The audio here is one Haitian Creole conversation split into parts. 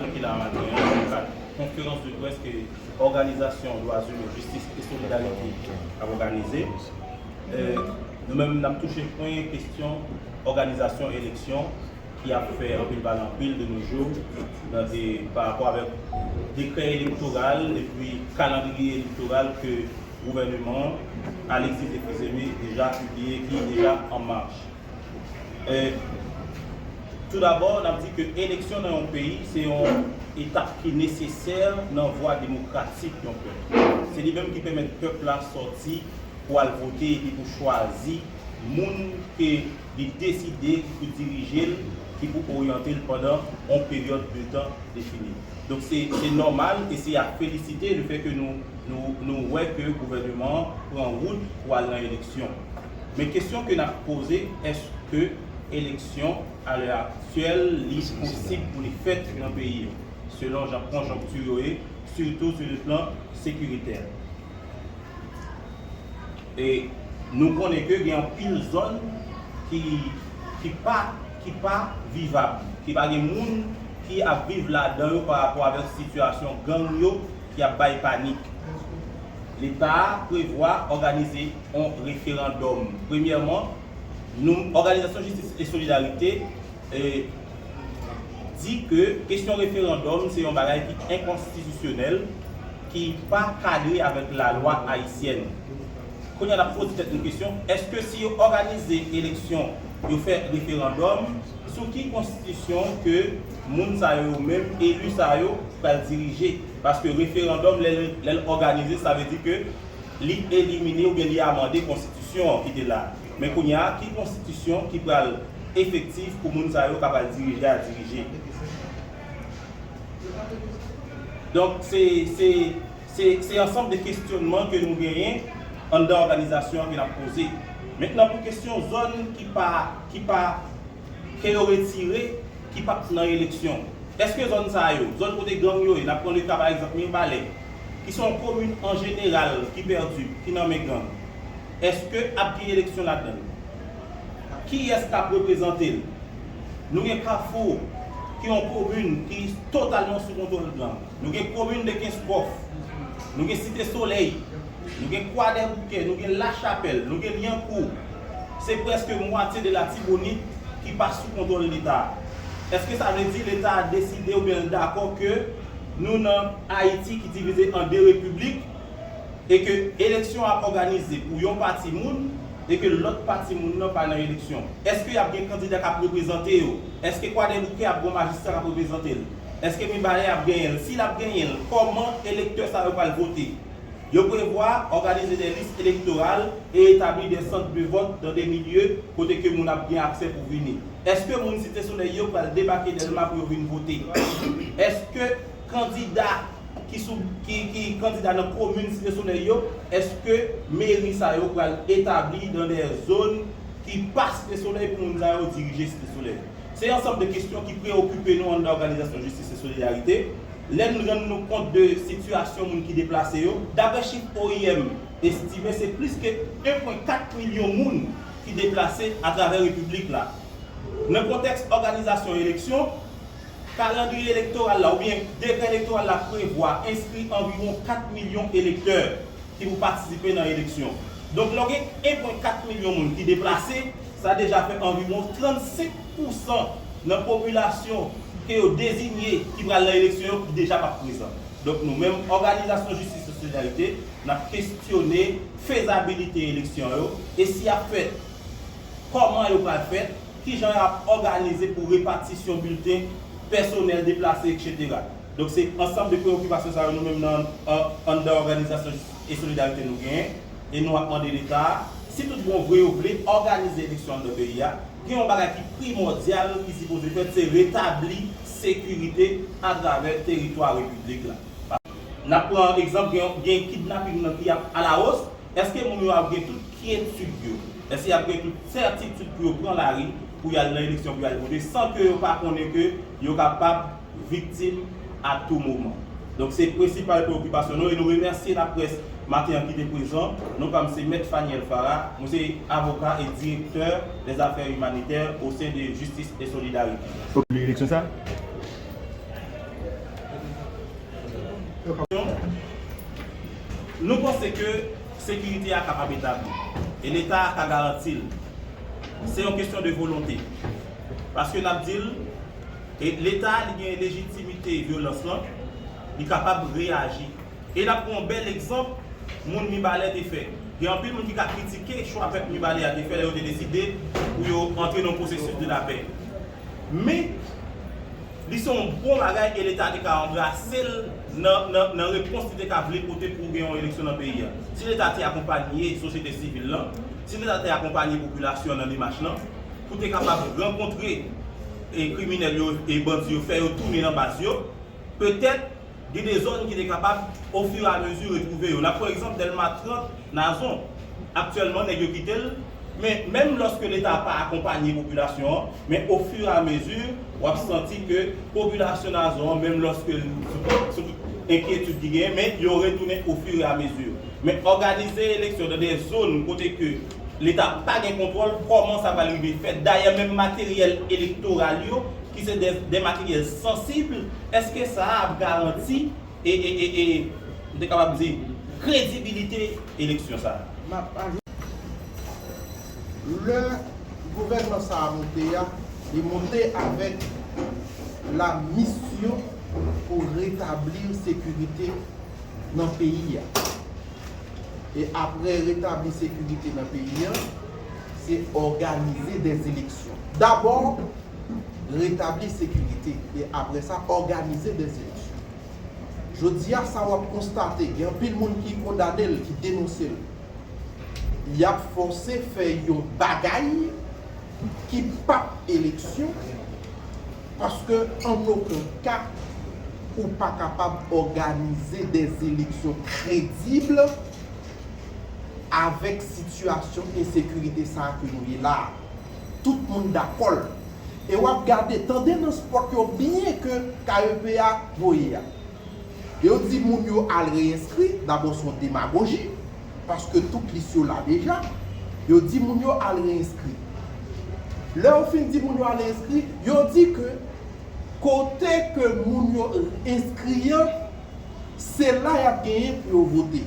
Depi la maten an, nan kad konferans de près ke òganizasyon dwa zimen, jistis e solidarite ap òganize, nou menm nap touche pwen kestyon òganizasyon eleksyon ki ap fè anpil pale anpil de nou jou pa rapò avèk dekrè elektoral epi kalandriye elektoral ke gouvèneman Alexis Epizeme deja pibliye ki deja an mach. Tou dabò, n ap di ke eleksyon nan yon peyi se yon etap ki nesesè nan vwa demokratik yon pèp. Se li menm ki pèmèt pèp la sòti pou al vote epi pou chwazi moun ke li deside ki pou dirije l, ki pou oryante l pandan yon peryòd de tan defini. Donk se nòmal e se a felisite lefèke nou wè ke gouvèneman an pran wout pou al nan eleksyon. Men kesyon ke nap poze eske eleksyon a lè aktyèl li posib pou li fèt nan peyi yo selon jan konjonkti yo ye sitou sou le plan sekiritè. E nou konnen ke gen anpil zòn ki ki pa ki pa vivab, ki pa gen moun ki ap viv ladan yo pa rapò avèk sitiyasyon gang yo ki ap bay panik. Leta a prevwa òganize. yon referandòm. Premyèman, nou, Òganizasyon Jistis e Solidarite, di ke kesyon referandòm se yon bagay ki enkonstitisyonèl, ki pa kadre avèk lalwa ayisyèn. Kounye a, n ap poze tèt nou kesyon, èske si yo òganize eleksyon, yo fè referandòm, sou ki konstitisyon ke moun sa yo yo menm, elu sa yo, pral dirije? Paske referandòm, lè l òganize, sa vle di ke Li elimine oubyen li amande konstitisyon an ki te la. Men kounye a, ki konstitisyon ki pral efektif pou moun sa yo kap al dirije a dirije? Donk, se, se, se, se ansanm de kesyonman ke nou genyen anndan òganizasyon an ke nap poze. Mentnan pou kesyon zòn ki pa, ki pa. ke yo retire ki pa t nan eleksyon. Eske zòn sa yo, zòn kote gang yo ye, n ap pran le ka pa egzanp Mirbalè, ki se yon komin an jeneral ki pèdi, ki nan men gang, eske ap gen eleksyon ladan l? Kiyès k ap reprezante l? Nou gen Kafou, ki yon komin ki totalman sou kontwòl gang. Nou gen komin Dekenskòf. Nou gen Site Solèy. Nou gen Kwadèboukè, nou gen Lachapèl, nou gen Lyankou. Se prèske mwatye de Latibonit ki pa sou kontwòl Leta. Èske sa vle di Leta a deside oubyen l dakò ke nou nan Ayiti ki divize an de repiblik e ke eleksyon ap òganize pou yon pati moun e ke lòt pati moun nan pa nan eleksyon? Èske y ap gen kandida k ap reprezante yo? Èske Kwadèboukè ap gen yon majistra k ap reprezante l? Èske Mibalè ap genyen l? Si l ap genyen l, kòman elektè sa yo pral vote? Yo prevwa òganize de lis elektoral e etabli de sant de vòt dan de milye kote ke moun ap gen aksè pou vini. Eske moun Site Solèy yo pral debake Dèlma pou yo vin vote? Eske kandida ki sou ki kandida nan komin Site Solèy yo, eske meri sa yo pral etabli dan de zòn ki pa Site Solèy pou moun sa yo dirije Site Solèy? Se ansanm de kesyon ki preyokipe nou anndan òganizasyon Jistis e Solidarite. lè n rann nou kont de sitiyasyon moun ki deplase yo, daprè chif oim estime se plis ke 1 pwen 4 milyon moun ki deplase atravè repiblik la. Nan kontèks òganizasyon eleksyon, kalandriye elektoral la oubyen dekrè elektoral la prevwa enskri anviwon 4 milyon elektè ki pou patisipe nan eleksyon. Donk lè w gen 1 pwen 4 milyon moun ki deplase, sa deja fè anviwon 35. pou san nan popilasyon ke yo dezinye ki pral nan eleksyon yo ki deja pap prezan. Donk nou menm òganizasyon Jistis e Solidarite nap kestyone fezabilite eleksyon yo e si yap fèt, kòman yo pral fèt, kijan yo ap òganize pou repatisyon bilten, pèsonèl deplase etc. Donk se ansanm de preyokipasyon sa yo nou menm nan anndan òganizasyon Jistis e Solidarite nou genyen e nou ap mande leta a, si tout bon vre yo vle òganize eleksyon anndan peyi a, Gen yon bagay ki primòdyal ki sipoze fèt, se retabli sekirite atravè teritwa Repiblik la. N ap pran egzanp, gen kidnaping nan ki ap alawos, èske moun yo ap gen tout kyetid yo, èske y ap gen tout sètitid pou yo pran lari, pou y al nan eleksyon, pou y al vote san ke yo pa konnen ke yo kapab viktim a tou moman. Donk se prensipal preokipasyon nou e nou remèsye laprès maten an ki te prezan. Non pa m se Mèt Phaniel Farah, mwen se avoka e direktè dè zafè imanitè o sen de Justice et Solidarité. Nou panse ke sekirite a kapab etabli e leta a ka garanti l. Se yon kesyon de volonte. Paske n ap di l. E leta li gen lejitimite vyolans lan, li kapab reyaji. E n ap pran yon bèl egzanp moun Mibalè te fè. Gen anpil moun ki ka kritike chwa pèp Mibalè a te fè lè yo te deside pou yo antre nan yon pwosesis de lapè. Men, li se yon bon bagay e leta te ka anbrase l nan repons li te ka vle pote pou gen yon eleksyon nan peyi a. Si leta te akonpanye sosyete sivil lan, si leta te akonpanye popilasyon an nan demach lan, pou te kapab rankontre kriminèl yo e bandi yo fè yo tounen nan baz yo, petèt gen de zòn ki te kapab ofiramezi retwouve yo. N ap pran egzanp Dèlma 30, Nazon. Aktyèlman nèg yo kite l, men menm lòske Leta pa akonpanye popilasyon an, men ofiramezi w ap santi ke popilasyon Nazon an menm lòske l sou tout enkyetid ki genyen men yo retounen ofiramezi. Men òganize eleksyon nan de zòn kote ke Leta pa gen kontwòl kòman sa pral rive fèt. Dayè menm materyèl elektoral yo ki se de materyèl sansib, eske sa a ap garanti e m te kapab di kredibilite eleksyon sa a? Lè gouvènman sa a moute a, li moute avèk la misyon pou retabli sekirite nan peyi a. E apre retabli sekirite nan peyi an, se òganize dè eleksyon. Dabò, retabli sekirite, e apre sa, òganize dè eleksyon. Jodi a, sa w ap konstate, gen anpil moun ki kondane l, ki denonse l. Y ap fòse fè yon bagay ki p ap eleksyon. Paske an oken ka, ou pa kapab òganize de eleksyon kredib avèk sitiyasyon ensekirite sa a ke nou ye la a. Tout moun dakò l. E w ap gade, tande nan spòt yo byen ke KEP a voye a. Yo di moun yo al reyenskri, dabò s on demagoji. paske tout lis yo la deja, yo di moun yo al re-enskri. Lè yo fin di moun yo al re-enskri, yo di ke kote ke moun yo enskri an, se la y ap genyen pou yo vote.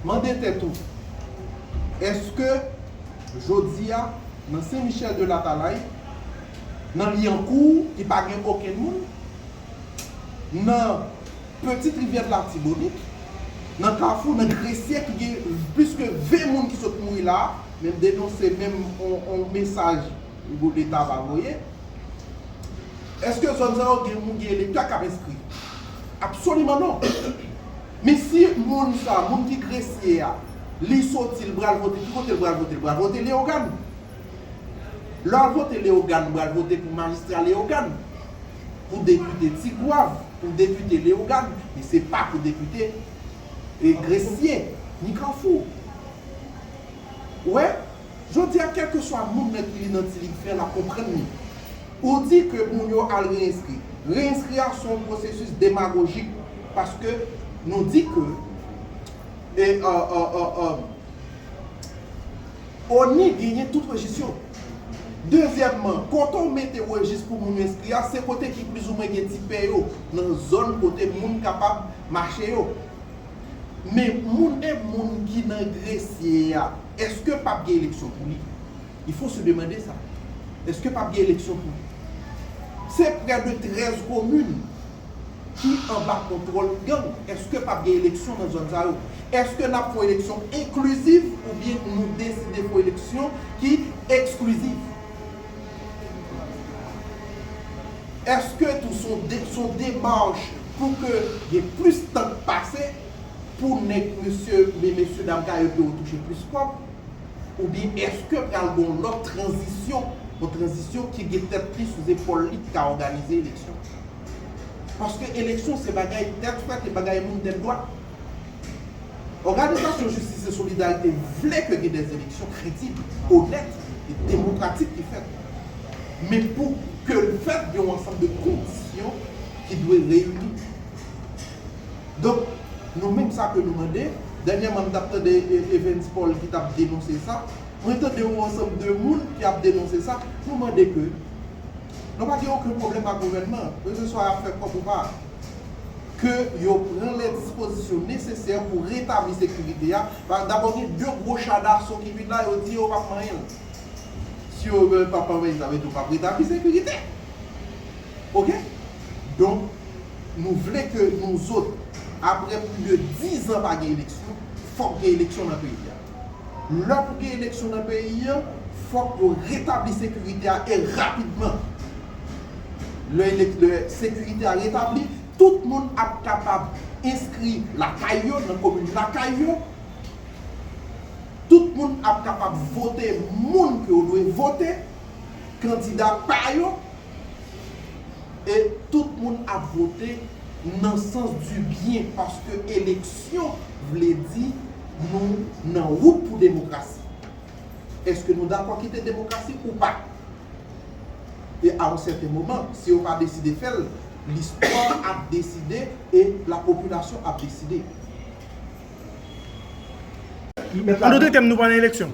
Mande tèt ou, èske jodi a, nan Sen Michèl de Latalay, nan Lyankou ki pa gen okenn moun, nan Petite Rivière de l'Artibonite, nan kafou, nan Gresye ki gen plis ke 20 moun ki sot mouri la, menm denonse menm yon mesaj leta pa voye. Eske zòn sa yo gen moun gen leta kap enskri? Absoliman non. Men si moun sa, moun ki Gresye a, li soti li pral vote, ki kote li pral vote? Li pral vote Leyogàn. Lè wap vote Leyogàn ou pral vote pou majistra Leyogàn. pou depite Tigwav, pou depite Leyogàn, men se pa pou depite Gresye, ni Kanfou. Ou wè? Jodi a, kèlkeswa moun nan ki li nan ti lig fè l ap konprann li. Ou di ke moun yo al reyenskri. Reyenskri a se yon pwosesis demagojik paske nou di ke ONI genyen tout rejis yo. Dezyèmman, kote w mete rejis pou moun yo enskri a, se kote ki plizoumwen gen ti pè yo, nan zòn kote moun kapab mache yo. Men, moun e moun ki nan Gresye a, èske pap gen eleksyon pou li? Il faut se demander ça. Èske pap gen eleksyon pou li? Se près de 13 komin. ki anba kontwòl gang? Eske pap gen eleksyon nan zòn sa yo? Eske nap fon eleksyon enkliziv oubyen nou deside fon eleksyon ki ekskliziv? Eske tou son demach pou ke gen plis tan k pase pou nèg mesye men mesye dam ka yo yo touche plis kòb? Oubyen eske pral gen yon lòt tranzisyon, yon tranzisyon ki gen tèt li sou zepòl li ki ka òganize eleksyon? Paske eleksyon se bagay tèt frèt e bagay moun tèt dwat. Òganizasyon Jistis e Solidarite vle ke gen des eleksyon kredib, onèt e demokratik ki fèt. Men pou ke l fèt gen yon ansanm de kondisyon ki dwe reyini. Donk, nou menm sa ke nou mande, dènyèman m t ap tande Evens Paul ki t ap denonse sa, mwen tande yon ansanm de moun ki ap denonse sa, nou mande ke, Nou pa gen oken pwoblèm ak gouvènman an, keseswa y ap fè kòb ou pa. Ke yo pran lè dispozisyon nesesè pou retabli sekirite a, paske dabò gen de gwo cha daso ki vin la, yo di yo p ap manyen l. Si yo menm p ap manyen l, sa vle di yo p ap retabli sekirite. Ok? Donk, nou vle ke nouzot, apre plis de dizan pa gen eleksyon, fòk gen eleksyon nan peyi a. lè pou gen eleksyon nan peyi an, fòk yo retabli sekirite a e rapidman. Lè sekirite a retabli, tout moun ap kapab enskri lakay yo, nan komin lakay yo, tout moun ap kapab vote moun ke yo dwe vote, kandida pa yo. E tout moun ap vote nan sans di byen paske eleksyon vle di nou nan wout pou demokrasi. Eske nou dakò kite demokrasi ou pa? E a yon sèten moman, si yo pa deside fè l, listwa ap deside e lapopilasyon ap deside. An dote tèm nou pa nan eleksyon.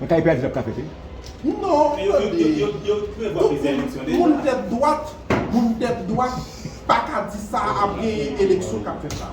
Nan kay pèdi lap kafe wi. Non tande moun tèt dwat moun tèt dwat paka di sa ap gen eleksyon kap fèt la.